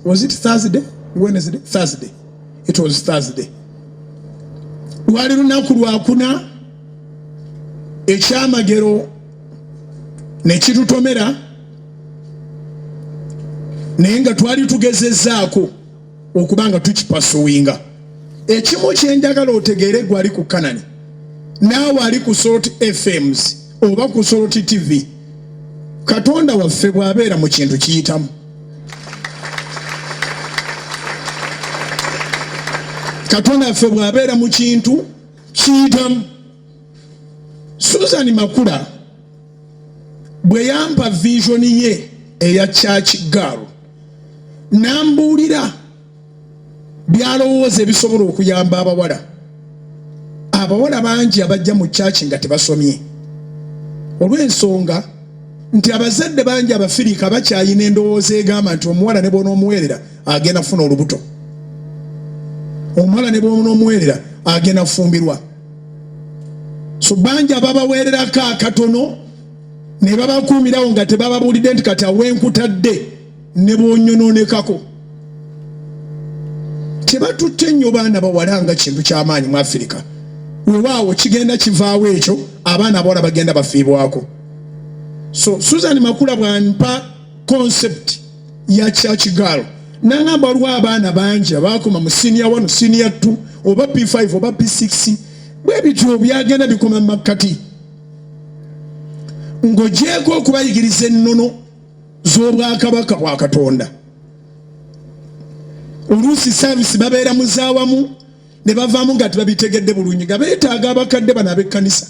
was it thursday wednesday thursday it was thursday lwali lunaku lwakuna ekyamagero nekitutomera naye nga twali tugezezaako okuba nga tukipasuwinga ekimu kyenjagala otegeere gwali ku kanani naawe ali ku salt fms oba ku salt tv katonda waffe bw'abeera mu kintu kiyitamu katonda affe bwabeera mu kintu kiyitamu susan makula bwe yampa visioni ye eya church girl nambuulira byalowooza ebisobola okuyamba abawala abawala bangi abajja mu kyaki nga tebasomye olw'ensonga nti abazadde bangi abafirika bakyayina endowooza egamba nti omuwala ne bwonaomuweerera agenda kufuna olubuto omuwala ne bwonaomuweerera agenda kufumbirwa so bangi ababaweererako akatono ne babakuumirawo nga tebababuulidde nti kati awenkutadde ne bwonyonoonekako tebatutte nnyo baana bawala nga kintu ky'amaanyi mu afirika wewaawo kigenda kivaawo ekyo abaana abawala bagenda bafiibwako so susan makula bwampa concept ya kyakigaalo nangamba waliwo abaana bangi abaakoma mu siniya one siniya t oba p5 oba p6 bwe bityo byagenda bikoma mu makkati ng'ogyeko okubayigiriza ennono z'obwakabaka bwa katonda oluusi saavisi babeera mu zaawamu ne bavaamu nga tibabitegedde bulungi nga beetaaga abakadde bano ab'ekkanisa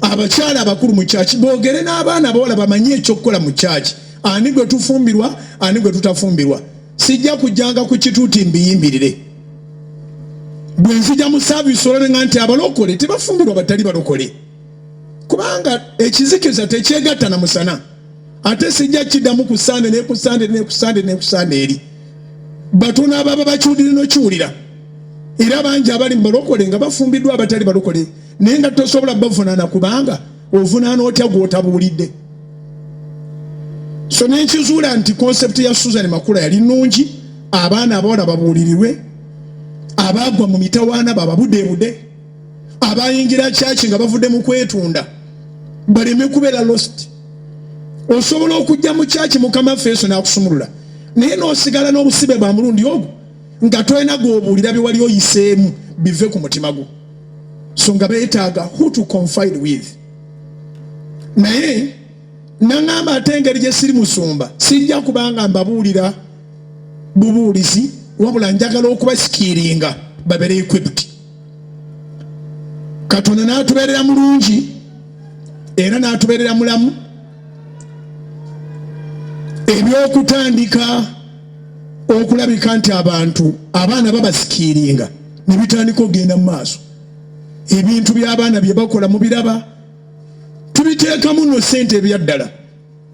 abakyala abakulu mu kyaki boogere n'abaana abawala bamanye ekyokukola mu kyaki ani gwe tufumbirwa ani gwe tutafumbirwa sijja kujjanga ku kituuti mbiyimbirire bwe nzija mu saavisi olabeng'a nti abalokole tebafumbirwa batali balokole kubanga ekizikiza tekyegatta na musana ate sijja kiddamu ku sande neku sande neku sande neku sande eri batono ababa bakiwulire nokiwulira era bangi abali mu balokole nga bafumbiddwa abatali balokole naye nga tosobola bavunaana kubanga ovunaana otya gwotabuulidde so nenkizuula nti concept ya susan makula yali nungi abaana abawala babuulirirwe abaagwa mu mitawaana bababudebude abayingira kyaki nga bavudde mu kwetunda baleme kubeera lost osobola okujja mu kyaki mukama ffe yesu n'akusumulula naye n'osigala n'obusibe bwa mulundi ogwo nga tolina gwobuulira bye wali oyiseemu bive ku mutima gwo so nga beetaaga who to confide with naye naŋamba ate engeri gye siri musumba sijja kubanga mbabuulira bubuulizi wabula njagala okubasikiiringa babere equipped katonda n'atubeerera mulungi era n'atubeerera mulamu ebyokutandika okulabika nti abantu abaana babasikiiringa ne bitandika okugenda mu maaso ebintu by'abaana bye bakola mu biraba tubiteekamu no ssente ebyaddala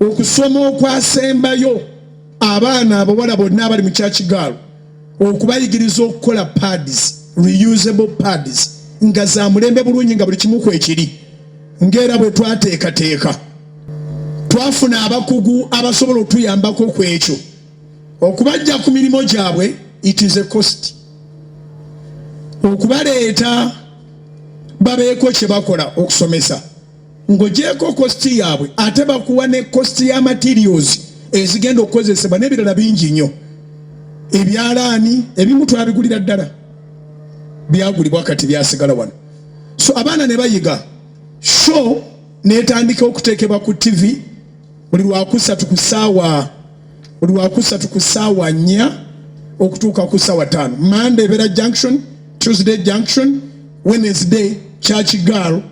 okusoma okwasembayo abaana abawala bonna abali mu kyakigaalo okubayigiriza okukola pads reusable pads nga za mulembe bulungi nga buli kimu kwekiri ngaera bwe twateekateeka twafuna abakugu abasobola otuyambako ku ekyo okubajja ku mirimu gyabwe it is a cost okubaleeta babeeko kye bakola okusomesa ngojeeko kositi yaabwe ate bakuwa ne kositi ya materials ezigenda okukozesebwa n'ebirala bingi nnyo ebyalaani ebimu twabigulira ddala byagulibwa kati byasigala wano so abaana ne bayiga sho netandika okuteekebwa ku tivi buli lwakusatu ku saawa buli lwakusatu ku saawa nnya okutuuka ku saawa ttaano mande ebeera junction tuesday junction wednesday church girl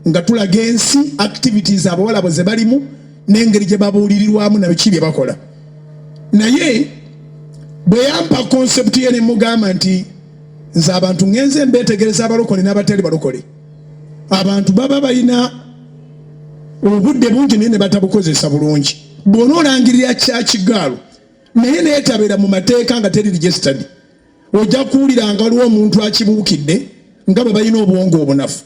nga tulaga ensi activities abawala bwe zebalimu n'engeri gye babuulirirwamu na biki bye bakola naye bwe yampa concept ye ne mugamba nti nze abantu ngenze mbeetegereza abalokole n'abatali balokole abantu baba balina obudde bungi naye ne batabukozesa bulungi bwona olangirira kyakigaalu naye neetabera mu mateeka nga teri registered ojja kuwulira nga waliwo omuntu akibuukidde nga bwe balina obwongo obunafu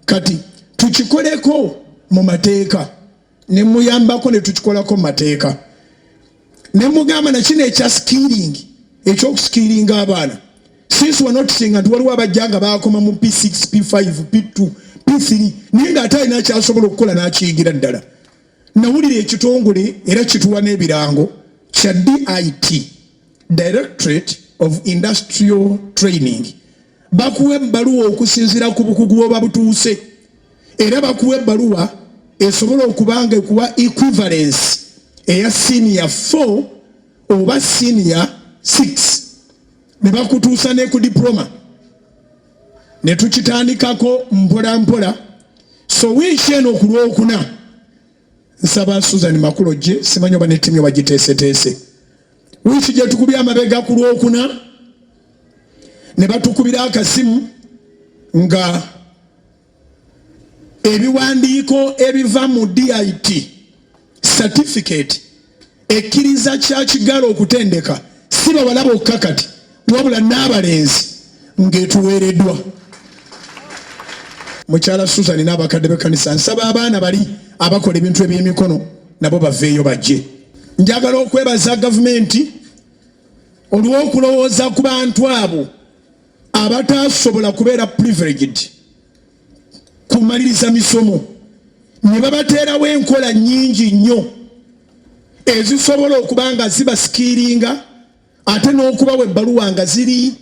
kati tukikoleko mu mateeka ne muyambako ne tukikolako mu mateeka ne mugamba na kino ekya skiringi ekyokusikiringa abaana since wa notisinga nti waliwo abajja nga bakoma mu p6 p5 p2 p3 naye nga ate alina kyasobola okukola n'akiyingira ddala nawulira ekitongole era kituwa n'ebirango kya dit Directorate of Industrial Training bakuwa ebbaluwa okusinziira ku bukugu bwoba butuuse era bakuwa ebbaluwa esobola okuba nga ekuwa equivalence eya siniya 4 oba siniya 6 ne bakutuusa ne ku diploma ne tukitandikako mpola mpola so wiiki eno ku lwokuna nsaba Susan Makulo gye simanyi oba ne ttiimu yo bagiteeseteese wiiki gye tukubye amabega ku lwokuna ne batukubira akasimu nga ebiwandiiko ebiva mu dit certificate ekkiriza kya kigala okutendeka si bawala bokka kati wabula n'abalenzi ng'etuweereddwa mukyala susan n'abakadde b'ekkanisa nsaba abaana bali abakola ebintu eby'emikono nabo baveeyo bajje njagala okwebaza gavumenti olw'okulowooza ku bantu abo abataasobola kubeera privileged kumaliriza misomo ne babateerawo enkola nnyingi nnyo ezisobola okuba nga zibasikiiringa ate n'okubawa ebbaluwa nga ziri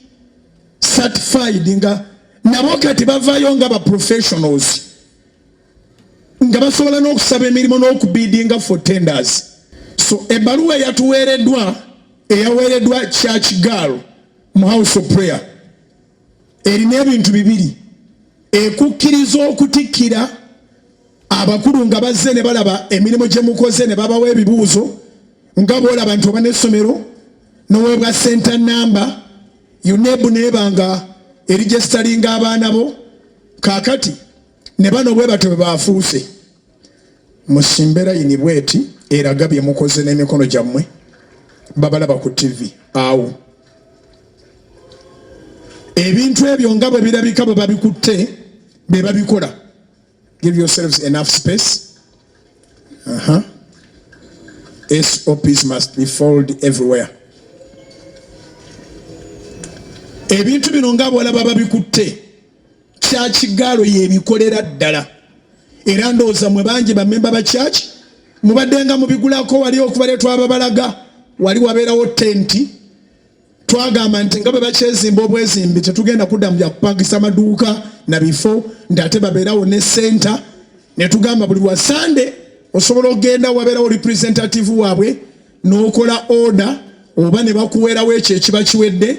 certified nga nabo kati bavayo nga ba professionals nga basobola n'okusaba emirimu n'okubiidinga for tenders so ebbaluwa eyatuweereddwa eyaweereddwa church girl mu house of prayer erina ebintu bibiri ekukkiriza okutikkira abakulu nga bazze ne balaba emirimu gye mukoze ne babawa ebibuuzo nga boolaba nti oba n'essomero n'oweebwa senta namba yunebu neeba nga erijesitalinga abaana bo kaakati ne bano bwe batyo bwe baafuuse musimbe layini bweti eraga bye mukoze n'emikono gyammwe babalaba ku tivi awo ebintu ebyo nga bwe birabika bwe babikutte be babikola give yourselves enough space uh -huh. sops must be followed everywhere ebintu bino nga bwolaba babikutte kyakigaalo yebikolera ddala era ndowooza mwe bangi bamemba ba kyaki mubaddenga mubigulako wali okubale twababalaga wali wabeerawo tenti twagamba nti nga bwe bakyezimba obwezimbi tetugenda kudda mu byakupangisa maduuka na bifo nti ate babeerawo ne senta netugamba buli lwa sande osobola okugenda wabeerawo representative waabwe n'okola order oba ne bakuweerawo ekyo ekiba kiwedde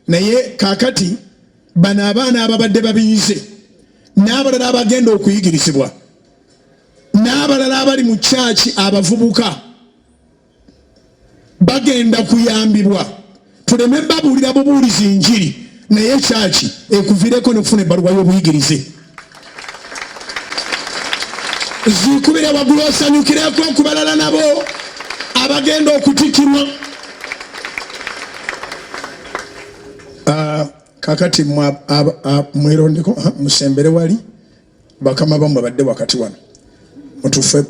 naye kakati bano abaana ababadde babiyize n'abalala abagenda okuyigirizibwa n'abalala abali mu kyaki abavubuka bagenda kuyambibwa tuleme babuulira bubuulizi njiri naye kyaki ekuvireko nokufuna ebbaluwa y'obuyigirize zikubire waggulu osanyukireko okubalala nabo abagenda okutikirwa ah, kakati mwerondeko ah, musembere wali bakama bamwe badde wakati wano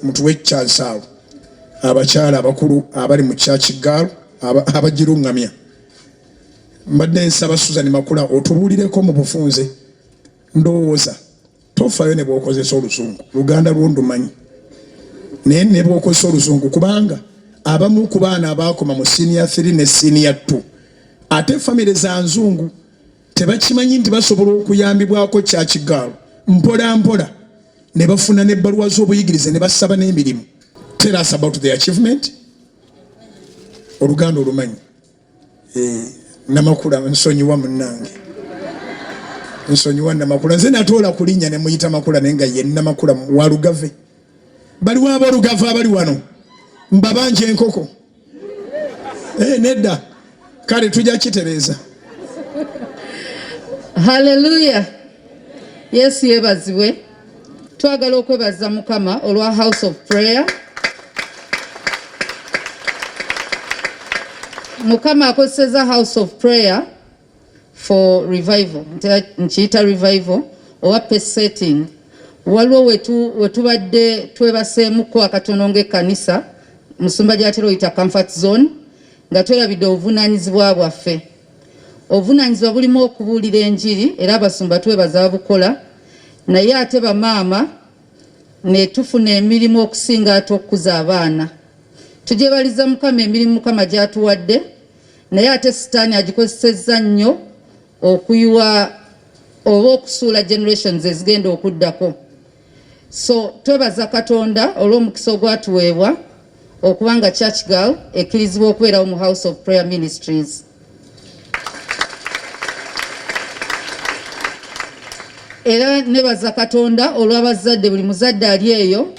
mutuwe ekyansi awo abakyala abakulu abali mu kyakigaalu abagiruŋŋamya mbadde nsaba suzan makula otubuulireko mu bufunze ndowooza tofayo ne bwokozesa oluzungu luganda lwo ndumanyi naye ne bwokozesa oluzungu kubanga abamu ku baana abaakoma mu siniya 3 ne siniya 2 ate famire za nzungu tebakimanyi nti basobola okuyambibwako kyakigaalo mpola mpola ne bafuna n'ebbaluwa z'obuyigirize ne basaba n'emirimu tell us about the achievement oluganda olumanyi eh, namakula nsonyiwa munange nsonyiwa namakula nze natoola kulinya nemuyita makula naye nga ye namakula walugave baliwo abolugave abali wano mbabanja enkoko eh, nedda kale tujja kitereeza haleluya yesu yebazibwe twagala okwebaza mukama olwa house of prayer mukama akozeseza house of prayer for revival nkiyita revival oba pace setting waliwo wetubadde twebaseemuko akatono ngaekkanisa musumba gyatera oyita comfort zone nga tweyabidde obuvunaanyizibwa bwaffe obuvunaanyizibwa bulimu okubuulira enjiri era abasumba twebaza babukola naye ate bamaama netufuna emirimu okusinga ate okukuza abaana tugyebaliza mukama emirimu mukama gyatuwadde naye ate sitaani agikozesezza nnyo okuyiwa oba okusuula generations ezigenda okuddako so twebaza katonda olw'omukisa ogwatuweebwa okuba nga church girl ekkirizibwa okubeerawo mu house of prayer ministries era nebaza katonda olw'abazadde buli muzadde ali eyo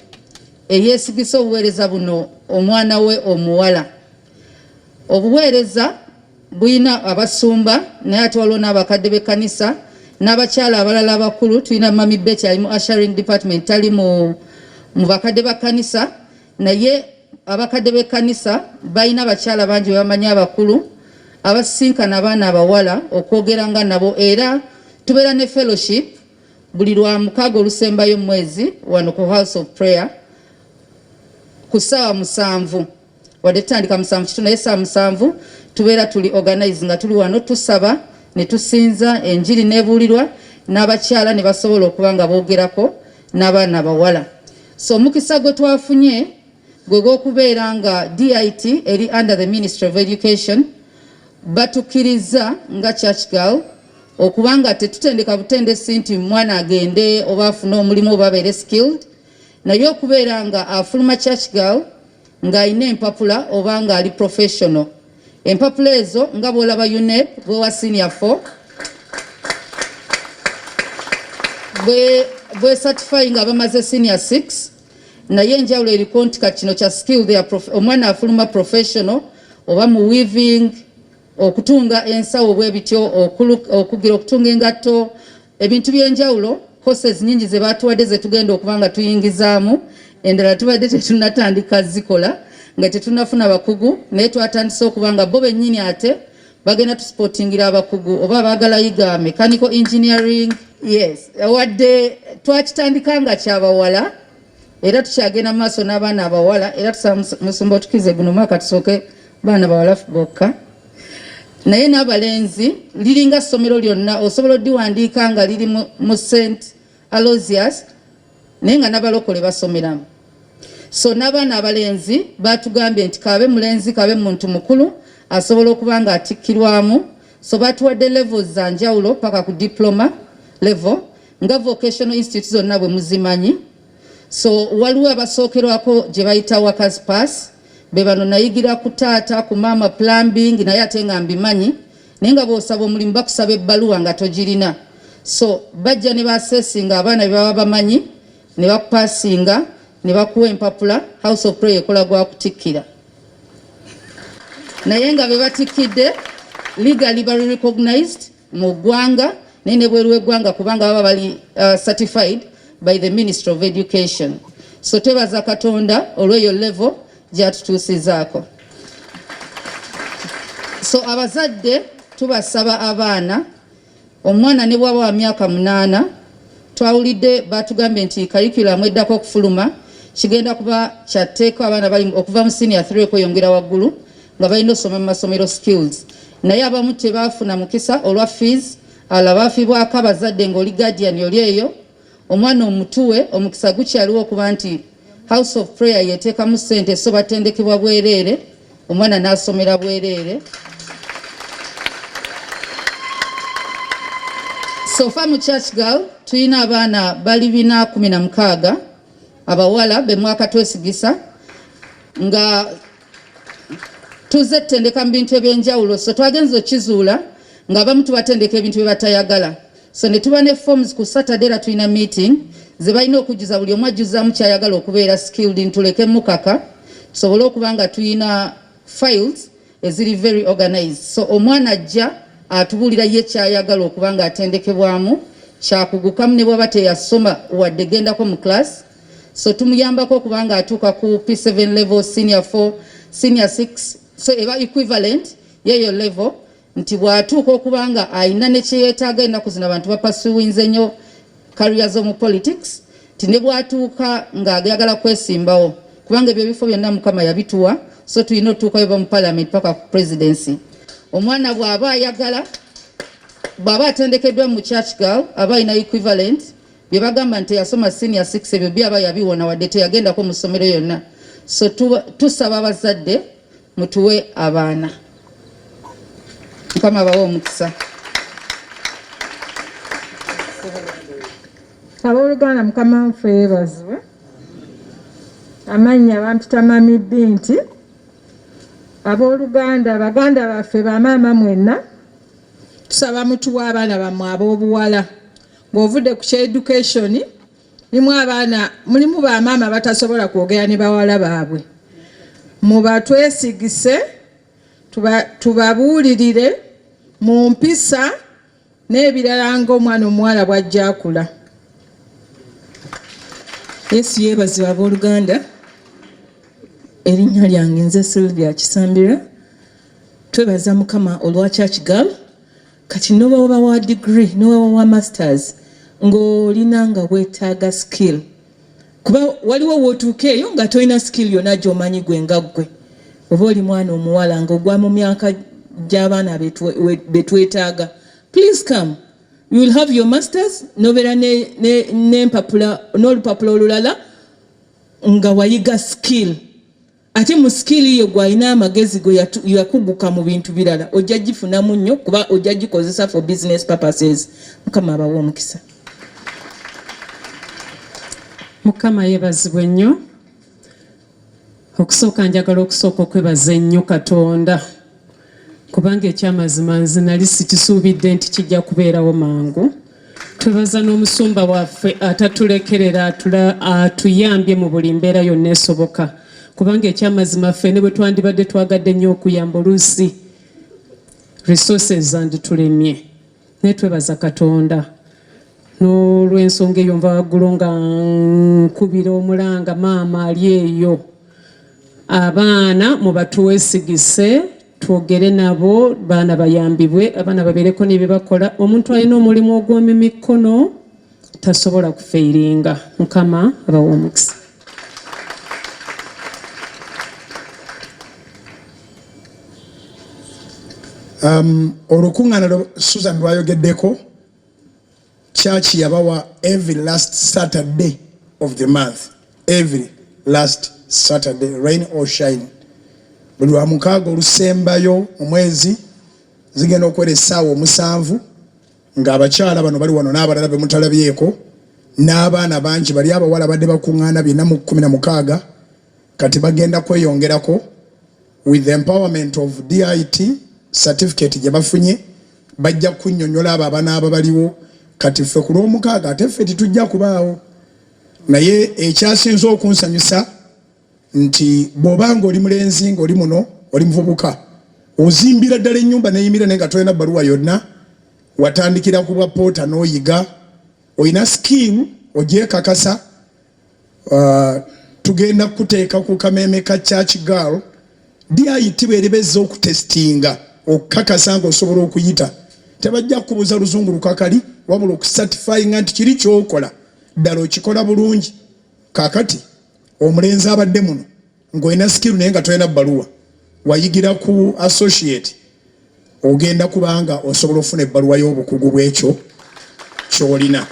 eyeesigisa obuweereza buno omwana we omuwala obuweereza bulina abasumba naye ate waliwo n'abakadde b'ekkanisa n'abakyala abalala abakulu tulina mami beti ali mu asharing department tali mu bakadde ba kkanisa naye abakadde b'ekkanisa balina abakyala bangi bebamanyi abakulu abasisinkana abaana abawala okwogera nga nabo era tubeera ne fellowship buli lwa mukaaga olusembayo mu mwezi wano ku house of prayer ku ssaawa musanvu wadde tutandika musanvu kitu naye saa musanvu tubeera tuli organize nga tuli wano tusaba ne tusinza enjiri nebuulirwa n'abakyala ne basobola okuba nga boogerako n'abaana bawala so omukisa gwe twafunye gwe gw'okubeera nga dit eri under the ministry of education batukirizza nga church girl okuba nga tetutendeka butendesi nti mwana agende oba afune omulimu oba abeere skilled naye okubeera nga afuluma church girl ng'alina empapula oba ng'ali professional empapula ezo nga bwolaba unep bwewa senior 4 bwesatifai nga bamaze senior 6 naye enjawulo eriko nti kati kino kya skill omwana afuluma professional oba mu weaving okutunga ensawo bwe bityo okugira okutunga engatto ebintu by'enjawulo courses nyingi ze baatuwadde ze tugenda okuba nga tuyingizaamu endala tubadde tetunatandika zikola nga tetunafuna bakugu naye twatandise okuba nga bo bennyini ate bagenda tusipotingira abakugu oba baagala yiga mechanical engineering yes wadde twakitandika nga kyabawala era tukyagenda mu maaso n'abaana abawala era tusaba musumba otukize guno mwaka tusooke baana bawala bokka naye n'abalenzi liringa ssomero lyonna osobola odiwandiika nga liri mu st alosius naye nga nabalokole basomeramu so n'abaana abalenzi batugambye nti kabe mulenzi kabe muntu mukulu asobola okuba nga atikkirwamu so batuwadde levels za njawulo paka ku diploma level nga vocational institute zonna bwe muzimanyi so waliwo abasookerwako gye bayita workers pass be bano nayigira ku taata ku maama plumbing naye ate nga mbimanyi naye nga bwosaba omulimu bakusaba ebbaluwa nga togirina so bajja ne basesinga abaana be baba bamanyi ne bakupasinga ne bakuwa empapula house of prayer ekola gwa kutikkira naye nga be batikkidde legally bali recognized mu ggwanga naye ne bweru w'eggwanga kubanga baba bali uh, certified by the ministry of education so twebaza katonda olw'eyo level gyatutuusizaako so abazadde tubasaba abaana omwana ne bwaba wa myaka munaana twawulidde batugambye nti kayikulamu eddako okufuluma kigenda kuba kyatteeka abaana bali okuva mu siniya 3 okweyongera waggulu nga balina osoma mu masomero skills naye abamu tebaafuna mukisa olwa fees ala baafibwako abazadde ng'oli guardian oli eyo omwana omutuwe omukisa gukyaliwo okuba nti house of prayer yeteekamu ssente so batendekebwa bwereere omwana n'asomera bwereere sofa mu church girl tulina abaana bali bina kumi na mukaaga abawala bemwaka twesigisa nga tuze tutendeka mu bintu ebyenjawulo so twagenza okizuula nga abamu tubatendeka ebintu bye batayagala so ne tuba ne forms ku saturday era tulina meeting ze balina okujjuza buli omu ajjuzaamu kyayagala okubeera skilled ntuleke mukaka tusobole okuba nga tulina files eziri very organized so omwana ajja atubuulira ye kyayagala okuba nga atendekebwamu kyakugukamu ne bwaba teyasoma wadde gendako mu class so tumuyambako okubanga atuuka ku p7 level senior 4 senior 6 so eba equivalent yeyo level nti bwatuuka okubanga alina nekyeyetaaga ennaku zino abantu bapasuwinze nnyo kariya z'omu politics nti ne bwatuuka ng'ayagala kwesimbawo kubanga ebyo ebifo byonna mukama yabituwa so tulina otuukayo ba mu parliament paka ku presidency omwana bw'aba ayagala bw'aba atendekeddwa mu church girl aba alina equivalent bye bagamba nti yasoma senior 6 ebyo byaba yabiwona wadde teyagendako mu ssomero yonna so tusaba abazadde mutuwe abaana mukama bawe omukisa abooluganda mukama nfe yebazibwe amannya bampita mami binti abooluganda baganda baffe bamaama mwenna tusaba mutuwa abaana bammwe ab'obuwala Bw'ovudde ku kya education mulimu abaana mulimu bamaama batasobola kwogera ne bawala baabwe mubatwesigise tubabuulirire mu mpisa n'ebirala ng'omwana omuwala bw'ajja akula yesu yeebazibwa abooluganda erinnya lyange nze sylvia kisambira twebaza mukama olwa church girl kati nobawoba wa degree nobawoba wa masters ng'olina nga wetaaga skill kuba waliwo wotuuka eyo nga tolina skill yona gyomanyi gwe nga ggwe oba oli mwana omuwala nga ogwa mu myaka gy'abaana betwetaaga please come you will have your masters nobeera n'empapula n'olupapula olulala nga wayiga skill ate mu skill yo gwalina amagezi go yakuguka mu bintu birala ojja gifunamu nnyo kuba ojja gikozesa for business purposes mukama abawa omukisa mukama yebazibwe nnyo okusooka njagala okusooka okwebaza ennyo katonda kubanga ekyamazima nze nali sikisuubidde nti kijja kubeerawo mangu twebaza n'omusumba waffe atatulekerera atuyambye mu buli mbeera yonna esoboka kubanga ekyamazima ffe ne bwe twandibadde twagadde nnyo okuyamba oluusi resources zanditulemye naye twebaza katonda n'olwensonga eyo nva waggulu nga nkubira omulanga maama ali eyo abaana mubatuwesigise twogere nabo baana bayambibwe abaana babeereko nebyebakola omuntu alina omulimu ogw'omu mikono tasobola kufeiringa mukama abawa omukisa. Um, olukuŋŋaana lwe susan lwayogeddeko kyaki yabawa every last saturday of the month every last saturday rain or shine buli lwa mukaaga olusembayo mu mwezi zigenda okuwera essaawa omusanvu ng'abakyala bano bali wano n'abalala be mutalabyeko n'abaana bangi bali abawala badde bakuŋŋaana bina mu kumi na mukaaga kati bagenda kweyongerako with empowerment of dit certificate gye bafunye bajja kunyonyola abo abanaaba baliwo kati ffe ku lw'omukaaga ate ffe titujja kubaawo naye ekyasinze okunsanyusa nti bwoba nga oli mulenzi nga oli muno oli muvubuka ozimbira ddala ennyumba neyimira naye nga tolina bbaluwa yonna watandikira ku bwa poota n'oyiga olina skill ogyekakasa uh, tugenda kukuteeka ku kameeme ka church girl dit bweriba ezza okutestinga okukakasa nga osobola okuyita tebajja kukubuuza luzungu lukakali wabula okusatifyinga nti kiri kyokola ddala okikola bulungi kakati omulenzi abadde muno ng'olina sikiru naye nga tolina bbaluwa wayigira ku associate ogenda kubanga osobola okufuna ebbaluwa y'obukugu bw'ekyo kyolina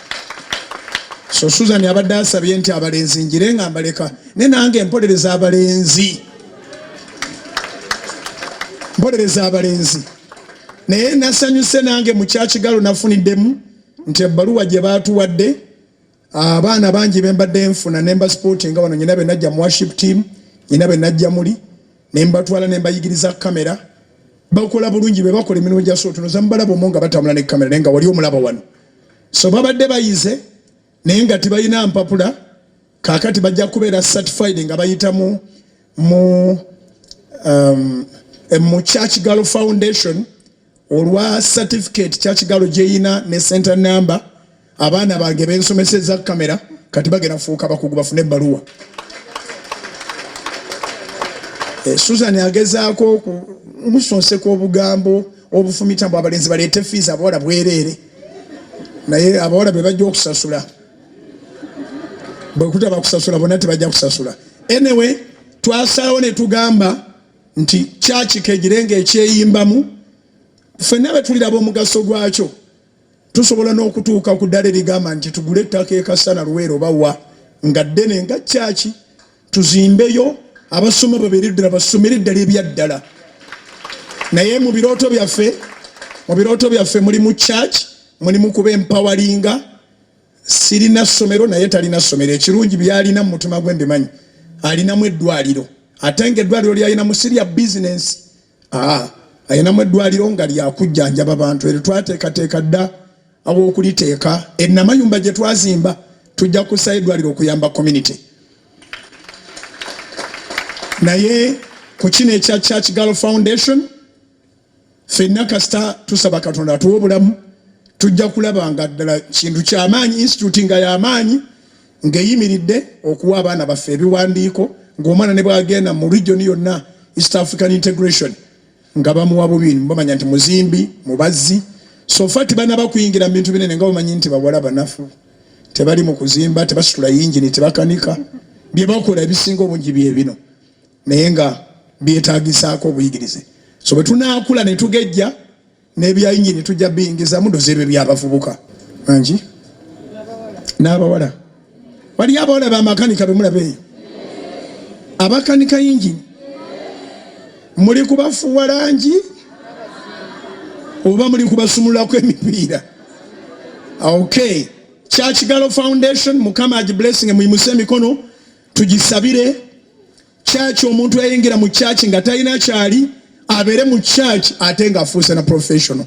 so susan abadde asabye nti abalenzi njire nga mbaleka naye nange empolereza abalenzi mpolereza abalenzi naye nasanyuse nange mukyakigalo nafuniddemu nti ebbaluwa gye baatuwadde abaana ah, bangi bembadde nfuna nemba sporting nga bano nyina benajja mu worship team nyina benajja muli nembatwala nembayigiriza kamera bakola bulungi bebakola emirimu gya sootuno zamubalaba omu nga batambula ne kamera naye nga wali omulaba wano so babadde bayize naye nga tibalina mpapula kakati bajja kubeera certified nga bayitamu mu um, mu church girl foundation olwa certificate kya kigalo gyeyina ne center number abaana bange bensomesa eza kamera kati bagenda kufuuka bakugu bafune ebbaluwa eh, susan agezaako omusonseka obugambo obufumita mbu abalenzi baleete fiizi abawala bwereere naye abawala be bajja okusasula bwekutaba kusasula bona tebajja kusasula anyway twasalawo netugamba nti kyaki kegire nga ekyeyimbamu ffenna be tuliraba omugaso gwakyo tusobola n'okutuuka ku ddala erigamba nti tugule ettaka ekasana luweero bawa nga ddene nga kyaki tuzimbeyo abasoma babeere ddala basomere eddala ebyaddala naye mu birooto byaffe mu birooto byaffe mulimu church mulimu kuba empawalinga Sirina ssomero naye talina ssomero. Ekirungi by'alina mu mutima gwe mbimanyi. Alinamu eddwaaliro ate ng'eddwaaliro ly'alinamu si lya bizinensi. Haa, alinamu eddwaaliro nga lya kujjanjaba bantu eryo twateekateeka dda aw'okuliteeka. E Namayumba gye twazimba tujja kussaayo eddwaaliro okuyamba community. Naye ku kino ekya Church Girl Foundation, fenna kasita tusaba katonda atuwa obulamu tujja kulaba nga ddala kintu kyamaanyi institute nga yamaanyi ngeyimiridde okuwa abaana baffe ebiwandiiko ngaomwana ne bwagenda mu region yonna east african integration nga bamuwa bubiri bamanya nti muzimbi mubazzi sofa tibanaba kuyingira mubintu binene nga bamanyi nti bawala banafu tebali mu kuzimba tebasitula yingini tebakanika byebakola ebisinga obungi byebino naye nga byetagisaako obuyigirize so bwe tunaakula ne tugejja n'ebyayingi ne tujja biyingizamu dozeerwe byabavubuka angi n'abawala waliyo abawala bamakanika be mulaba eyo abakanika yingini muli kubafuwa langi oba muli kubasumululako emipiira ok kyakigalo foundation mukama agiblessing muyimuse emikono tugisabire church omuntu yayingira mu church nga talina kyali abeere mu church ate nga afuuse na professional